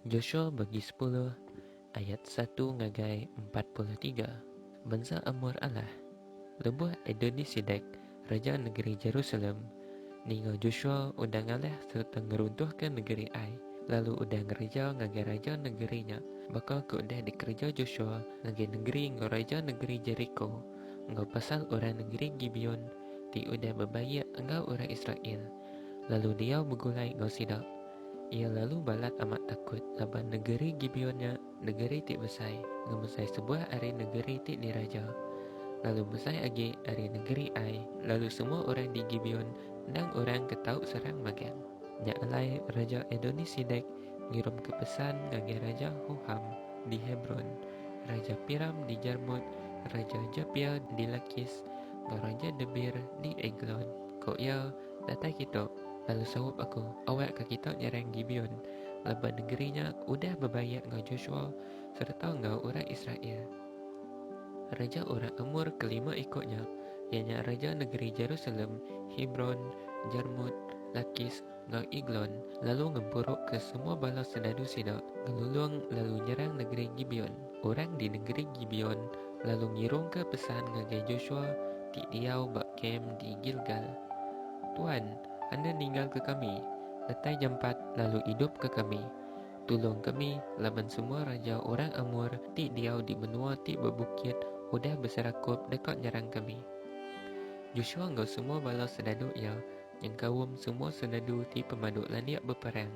Joshua bagi sepuluh ayat satu ngagai empat puluh tiga, Bansa Amor alah lebuh Adoni-sidek, raja negeri Jerusalem, ninga Joshua udah ngalih sereta ngeruntuhka negeri Ai, lalu udah ngereja ngagai raja negeri nya baka ke udah dikereja Joshua ngagai negeri enggau raja negeri Jeriko, enggau pasal orang negeri Gibeon ti udah bebaik enggau orang Israel. lalu diau begulai enggau sida. Iya lalu balat amat takut laban negeri Gibeon nya negeri ti besai ngemesai sebuah ari negeri ti diraja, lalu besai agi ari negeri Ai. Lalu semua orang di Gibeon endang orang ke tau serang magang. Nya alai Raja Adoni-sidek ngirumka pesan ngagai Raja Hoham di Hebron, Raja Piram di Jarmut, Raja Japia di Lakis, enggau Raja Debir di Eglon. Ku iya, Datai kitu, lalu saup aku, awak ka kitu nyerang Gibeon, laban nengeri nya udah bebayak enggau Joshua sereta enggau orang Israel. Raja orang Amor kelima iko nya, iya nya raja nengeri Jerusalem, Hebron, Jarmut, Lakis, enggau Eglon, lalu ngempuruka semua bala sendadu sida ngelulung lalu nyerang nengeri Gibeon. Orang di nengeri Gibeon lalu ngirungka pesan ngagai Joshua ti diau ba kem di Gilgal, Tuan, enda ninggalka kami, datai jampat lalu idupka kami. Tulung kami laban semua raja orang Amor ti diau di menua ti bebukit udah beserakup deka nyerang kami. Joshua enggau semua bala sendadu iya nyengkaum semua senadu ti pemaduk landik beperang,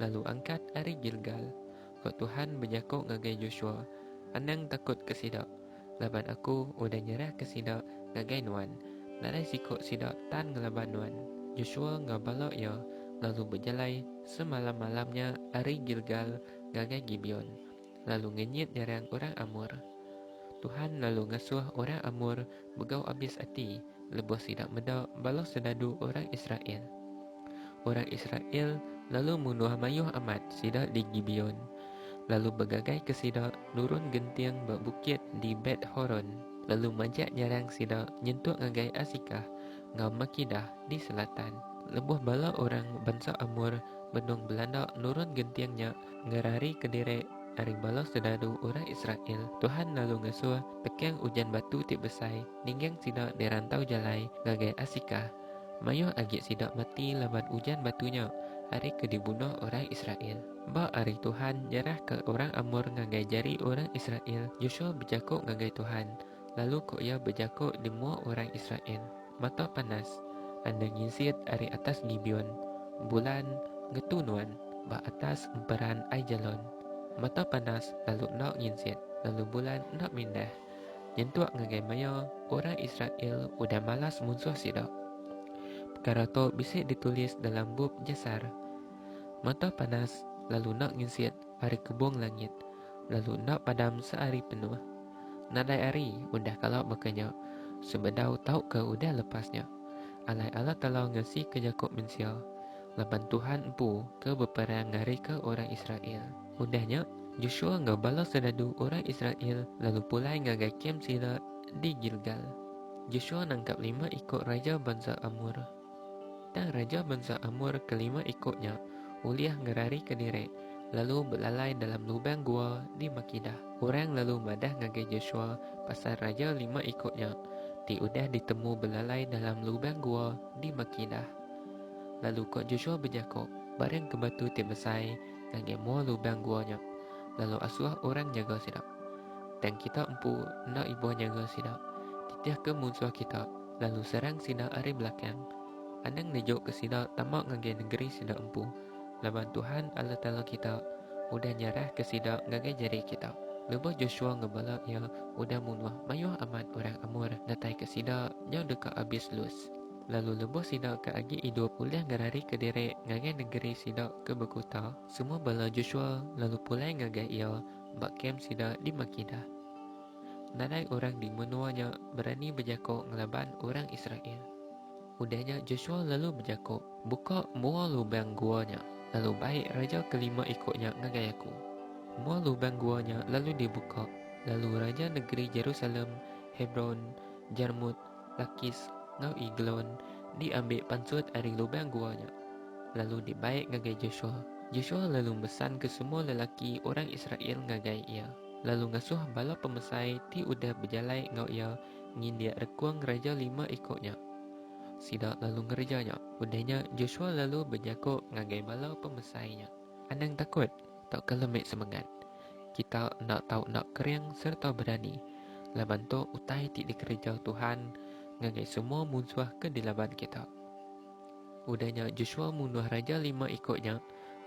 lalu angkat ari Gilgal. Roh Tuhan bejaku ngagai Joshua, Anang takutka sida, laban Aku udah nyerahka sida ngagai nuan, nadai siku sida tan ngelaban nuan. Joshua enggau bala iya lalu bejalai semalam-malam nya ari Gilgal ngagai Gibeon. lalu ngenyit nyerang orang Amor. Tuhan lalu ngesuh orang Amor begau abis ati lebuh sida meda bala serdadu orang Israel. Orang Israel lalu munuh mayuh amat sida di Gibeon, lalu begagaika sida nurun genting ba bukit di Bet-horon, lalu majak nyerang sida nyentuk ngagai Asikah enggau Makedah di selatan. Lebuh bala orang bansa Amor benung belanda nurun genting nya, ngerari kediri ari bala sodaru orang Israel, Tuhan lalu ngesuh teking ujan batu ti besai ningging sida di rantau jalai ngagai Asikah. Mayuh agi sida mati laban ujan batu nya ari ke dibunuh orang Israel. Ba ari Tuhan nyerahka orang Amor ngagai jari orang Israel, Joshua bejaku ngagai Tuhan, lalu ko iya bejaku di mua orang Israel. Mata panas enda nginsit ari atas Gibeon, Bulan ngetu nuan ba atas emperan Aijalon. Mata panas lalu enda nginsit, lalu Bulan enda mindah nyentuk ngagai maya orang Israel udah malas munsuh sida. Pekara tu bisi ditulis dalam bup Jasar. Mata panas lalu enda nginsit ari kebung langit. lalu enda padam seari penuh. Nadai ari udah kala baka nya, sebedau tauka udah lepas nya. Alai Allah Taala ngasika Yakub mensia, laban Tuhan empu ke beperang ngarika orang Israel. Udah nya, Joshua enggau bala soldadu orang Israel lalu pulai ngagai kem sila di Gilgal. Joshua nangkap lima iku raja bansa Amor. Tang raja bansa Amor ke lima iko nya ulih ngerarika diri lalu belalai dalam lubang gua di Makedah. Orang lalu madah ngagai Joshua pasal raja lima iko nya ti udah ditemu belalai dalam lubang gua di Makedah. Lalu ko Joshua bejako, Barang ke batu ti besai ngagai mua lubang gua nya, lalu asuh orang nyaga sida. Tang kita empu enda ibuh nyaga sida, titihka munsuh kita. Lalu serang sida ari belakang, anang nejuka sida tama ngagai nengeri sida empu, laban Tuhan, Allah Taala kita, udah nyerahka sida ngagai jari kita. Lebuh Joshua enggau bala iya udah munuh mayuh amat orang Amor ngataika sida nyau deka abis Lus, lalu lebuh sida ke agi idup ulih ngerarika diri ngagai nengeri sida ke bekuta, semua bala Joshua lalu pulai ngagai iya ba kem sida di Makedah. Nadai orang di menua nya berani bejako ngelaban orang Israel. Udah nya Josua lalu bejako, Buka mua lubang gua nya, lalu bai raja kelima iko nya ngagai aku. Mua lubang gua nya lalu dibuka, lalu raja negeri Jerusalem, Hebron, Jarmut, Lakis, enggau Eglon diambi pansut ari lubang gua nya, lalu dibai ngagai Josua. Josua lalu mesanka semua lelaki orang Israel ngagai iya. lalu ngasuh bala pemesai ti udah bejalai enggau iya ngindik rekung raja lima iku nya. Sida lalu ngereja nya. Udah nya, Joshua lalu bejaku ngagai bala pemesai nya, Anang takut tauka lembik semengat. Kita enda tau enda kering sereta berani, laban tu utai ti dikereja Tuhan ngagai semua munsuh ke dilaban kita. Udah nya, Joshua munuh raja lima iku nya.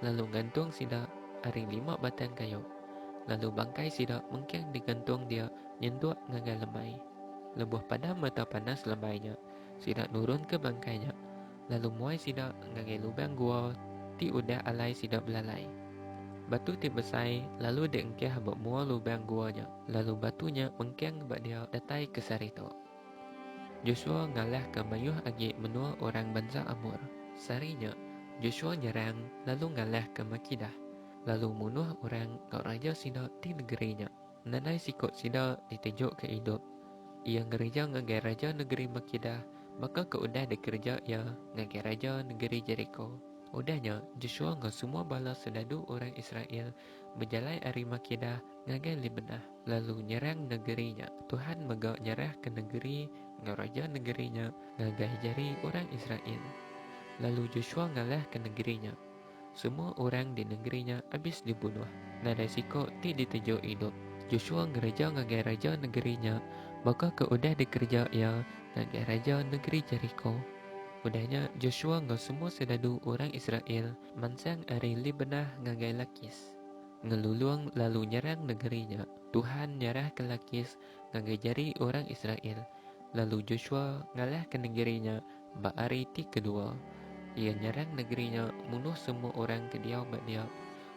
lalu ngantung sida ari lima batang kayu, lalu bangkai sida mengking digantung dia nyentuk ngagai lemai. Lebuh padam mata panas lemai nya, sida nurunka bangkai nya, lalu muai sida ngagai lubang gua ti udah alai sida belalai. Batu ti besai lalu diengkah ba mua lubang gua nya, lalu batu nya mengking ba dia datai ke sehari tu. Josua ngalahka mayuh agi menua orang bansa Amor. Sehari nya, Josua nyerang lalu ngalahka Makedah, lalu munuh orang enggau raja sida di negeri nya. Nadai siku sida ditejoka idup. Iya ngereja ngagai raja negeri Makedah baka ke udah dikereja iya ngagai raja negeri Jeriko. Udah nya, Josua enggau semua bala soldadu orang Israel bejalai ari Makeda ngagai Libnah, lalu nyerang negeri nya. Tuhan mega nyerahka negeri enggau raja negeri nya ngagai jari orang Israel, lalu Joshua ngalahka negeri nya. Semua orang di negeri nya abis dibunuh, nadai siko ti ditejuk idup. Joshua ngereja ngagai raja negeri nya baka ke udah dikereja iya ngagai raja negeri Jeriko. Udah nya, Joshua enggau semua soldadu orang Israel Mansang ari Libnah ngagai Lakis, ngelulung lalu nyerang nengeri nya. Tuhan nyerahka Lakis ngagai jari orang Israel, lalu Joshua ngalahka nengeri nya ba hari ti kedua. Iya nyerang nengeri nya munuh semua orang ke diau ba dia,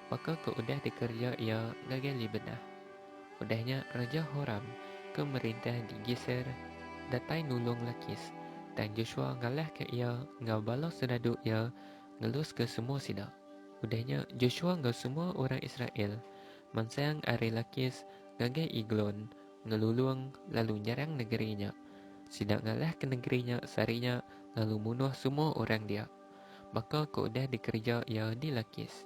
baka ke udah dikereja iya ngagai Libnah. Udah nya Raja Horam ke merintah di Geser datai nulung Lakis, tang Joshua ngalahka iya enggau bala seradu iya. ngeluska semua sida. Udah nya, Joshua enggau semua orang Israel mansang ari Lakis ngagai Eglon ngelulung lalu nyerang negeri nya. Sida ngalahka negeri nya sehari nya lalu munuh semua orang dia, baka ke udah dikereja iya di Lakis.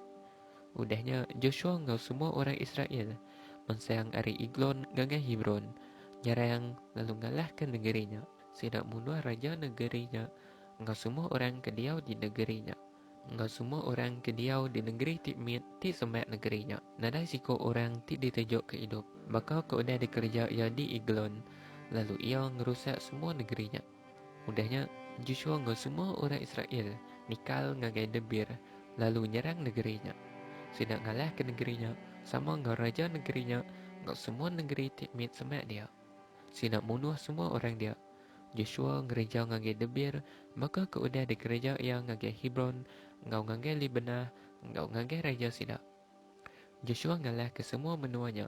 Udah nya, Joshua enggau semua orang Israel mansang ari Eglon ngagai Hebron, nyerang lalu ngalahka negeri nya. Sida munuh raja negeri nya enggau semua orang ke diau di negeri nya, enggau semua orang ke diau di negeri ti mit ti sembah negeri nya. Nadai siku orang ti ditujukka idup, baka ke udah dikereja iya di Eglon, lalu iya ngerusak semua negeri nya. Udah nya, Joshua enggau semua orang Israel nikal ngagai Debir lalu nyerang negeri nya. Sida ngalahka negeri nya sama enggau raja negeri nya enggau semua negeri ti mit sembah dia. Sida munuh semua orang dia. Josua ngereja ngagai Debir, baka ke udah dikereja iya ngagai Hebron enggau ngagai Libenah enggau ngagai raja sida. Josua ngalahka semua menua nya,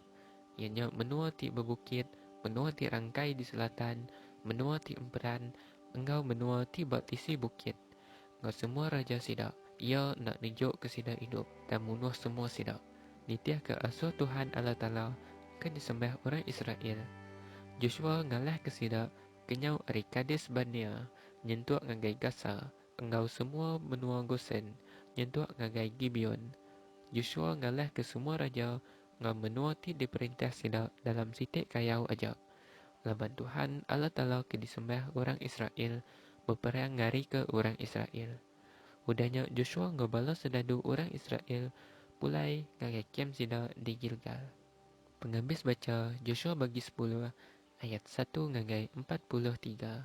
iya nya menua ti bebukit, menua ti rangkai di selatan, menua ti emperan, enggau menua ti ba tisi bukit. Enggau semua raja sida, iya enda nunjukka sida idup, tang munuh semua sida. Nitihka asuh Tuhan Allah Taala ke disembah orang Israel. Joshua ngalahka sida kenyau ari Kades-Barnea nyentuk ngagai Gasa enggau semua menua Gosen nyentuk ngagai Gibeon. Joshua ngalahka semua raja ngam menua ti diperintah sida dalam siti kayau aja, laban Tuhan, Allah Taala ke disembah orang Israel, beperang ngarika orang Israel. Udah nya Joshua enggau bala soldadu orang Israel pulai ngagai kem sida di Gilgal. Pengabis bacha Joshua bagi sepuluh ayat satu ngagai empat puluh tiga.